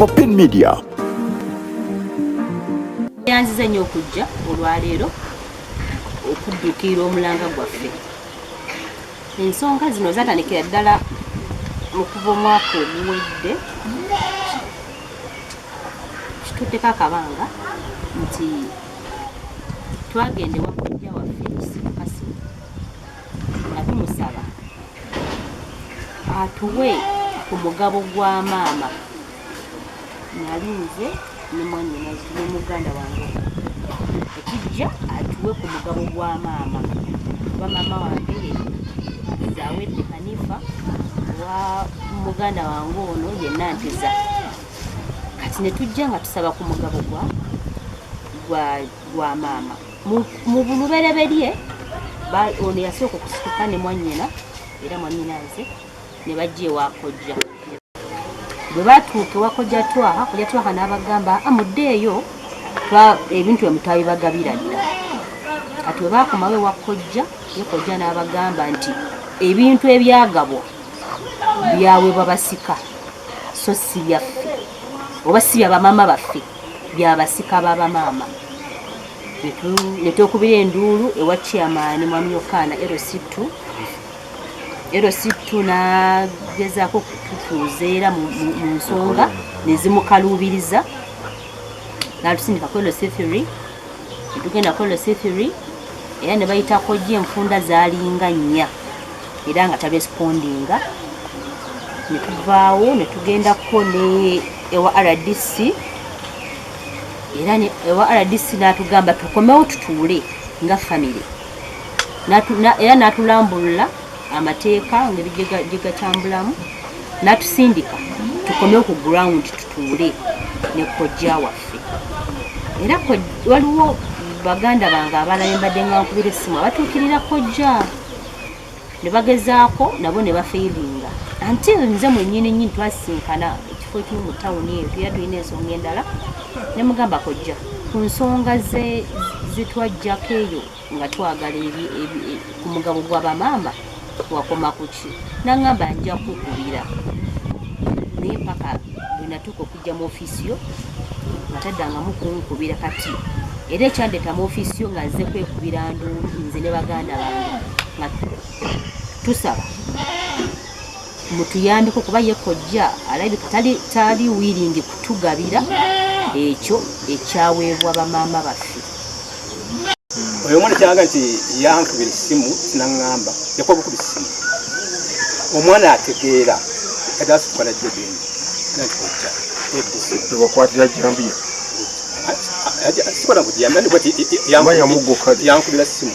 Popin Media. Yanzize nnyo okujja olwaleero okuddukiira omulanga gwaffe ensonga zino zatandikira ddala mu kuva omwaka oguwedde kituddeko akabanga nti twagenda ewa kojja waffe nga tumusaba atuwe ku mugabo gwa maama nali nze ne mwanyinazi ne muganda wange ekijja atuwe ku mugabo gwa maama kuba maama wange zawedde hanifa wa muganda wange ono yenna ntiza kati ne tujja nga tusaba ku mugabo gwa gwa maama mu bulubereberye ono yasooka okusituka ne mwanyina era mwanyina nze ne bajja ewakojja bwe batuuka ewakojja twaha kojja twaha n'abagamba amuddeeyo ebintu emutaabi bagabira dda kati bwe baakomawo ewakojja ye kojja n'abagamba nti ebintu ebyagabwa byawebwa basika so si byaffe oba si bya bamaama baffe bya basika ba bamaama ne twekubira enduulu ewa chairman mwami yokaana lc2 lc2 nagezaako okututuuza era mu nsonga nezimukaluubiriza natusindika ku lc3 etugenda kola sithiri era ne bayitako gye enfunda zaalinga nnya era nga taresipondinga ne tuvaawo ne tugendako ne ewa rdc era ewa rdc n'atugamba tukomewo tutuule nga famire era n'atulambulula amateeka ngeri gye gatambulamu natusindika tukome ku ground tutuule ne kojja waffe era waliwo baganda bange abalala embadde nga nkubira essimu abatuukirira kojja ne bagezaako nabo ne bafeiringa until nze mwenyini nyini twasisinkana ekifo ekimu mu tawuni eyo tuya tulina ensonga endala ne mugamba kojja ku nsonga zitwajjako eyo nga twagala eri ku mugabo gwa bamaama wakoma kuki nangamba nja kukubira naye mpaka bwenatuuka okujja mu ofiisi yo nga taddangamu kunkubira kati era ekyandeeta mu ofiisi yo nga nze kwekubira nduulu nze ne baganda bange nga tusaba mutuyambeko kuba ye kojja alabika tali tali wiringi kutugabira ekyo ekyaweebwa bamaama baffe oyo omwana kyaga nti yankubira essimu sinaŋŋamba yakuba bukuba essimu omwana ategeera kati asituka najjo gendi nati kojja ewakwatira jambiya sikona kuti yankubira essimu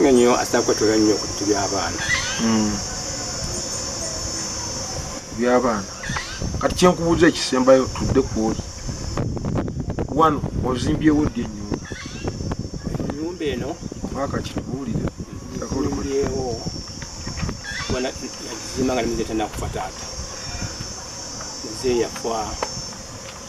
nga nyo asakwatula nnyo ku bintu by'abaana hmm. by'abaana kati kyenkubuuza ekisembayo tudde kwoli wano ozimbyewo ddi ennyumba ennyumba eno mwaka kitubuulire akolimbyewo bona nakizimba nga nimize tanakufa taata nze yafa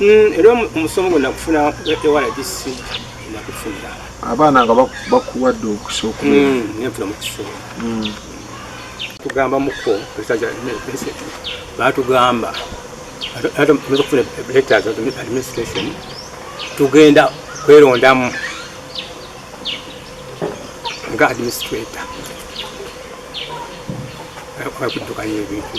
Mm, era omusomo gwe nakufuna ewala gisi nakufunira abaana nga bakuwadde okusooka mm, nenfuna mukisomo mm. tugamba muko batugamba okufuna letters administration tugenda kwerondamu nga administrator kuddukanya ebintu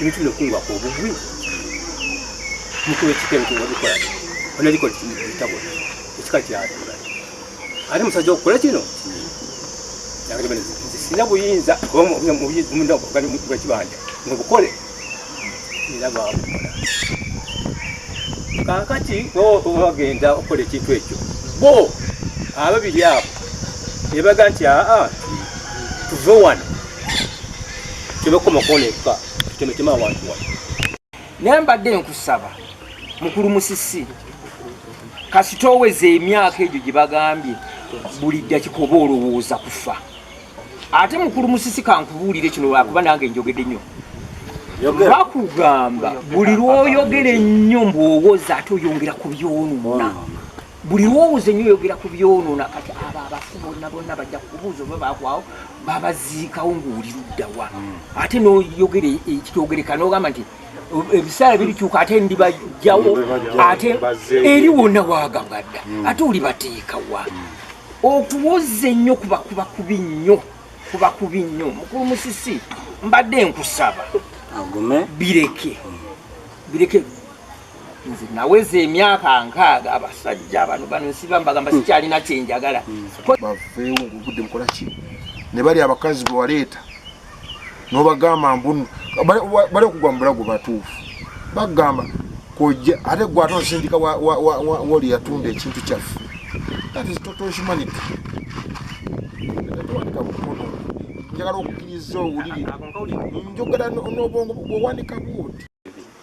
Ebintu bino kungwa ku obugwi mukulu ekika ebintu nga bikola ona bikola ekitabo ekika kyatura ate musajja okukola kino sina buyinza bwekibanja nobukole era bwabukola kakati bagenda okukola ekintu ekyo bo ababiri abo ebaga nti aa tuve wano tebekoma kuona eka tutemetema abantu wa naye mbadde nkusaba mukulu musisi kasita oweza emyaka egyo gye bagambye buli dakika oba olowooza kufa ate mukulu musisi kankubuulire kino lwakuba nange njogede nnyo bakugamba buli lwoyogera ennyo mbwowoza ate oyongera ku byonona buli lwowuze nyo oyogera ku byonona kati abo abafu bonna bonna bajja kubuuza oba bakwawo babaziikawo ngaoli luddawa hmm. ate noyogera e, e, kitogereka nogamba nti ebisaala birikyuka ate ndibajjawo ate eri wonna wagagadda hmm. ate oli bateekawa hmm. okuwoza ennyo kuba kuba kubi nnyo kuba kubi nnyo mukulu musisi mbadde nkusaba bireke bireke nze naweza emyaka nkaaga abasajja bano bano nsiba mbagamba hmm. sikyalina kyenjagala hmm. baveewo ngaogudde mukola ki ne bali abakazi bewaleeta nobagamba mbunu bali okugwa mubulago batuufu bagamba kojja ate gwe ate osindika woli yatunda ekintu kyaffe that is total humanity njagala okukkiriza owulire njogera n'obwongo bwowandika bwoti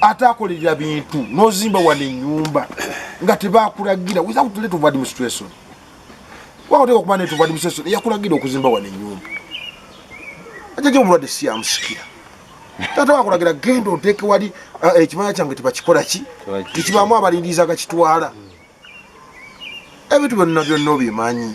ate akolerera bintu nozimba wano enyumba nga tebakulagira without let of administration wakoteka okuba net of administration eyakulagira okuzimba wano enyumba ajaja omulwadde siyamusikira tata wakulagira genda oteeke wali uh, ekimanya kyange tebakikola ki tekibaamu abalindiriza gakitwala ebintu byonna byonna obimanyi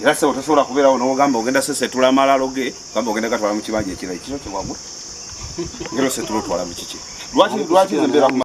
Era sebo tosobola kubeerawo n'ogamba ogenda sesetula amalalo ge gamba ogenda gatwala mu kibanja ekirala ekiro kyewagula ngero setula otwala mu kiki lwaki lwaki nze mbeera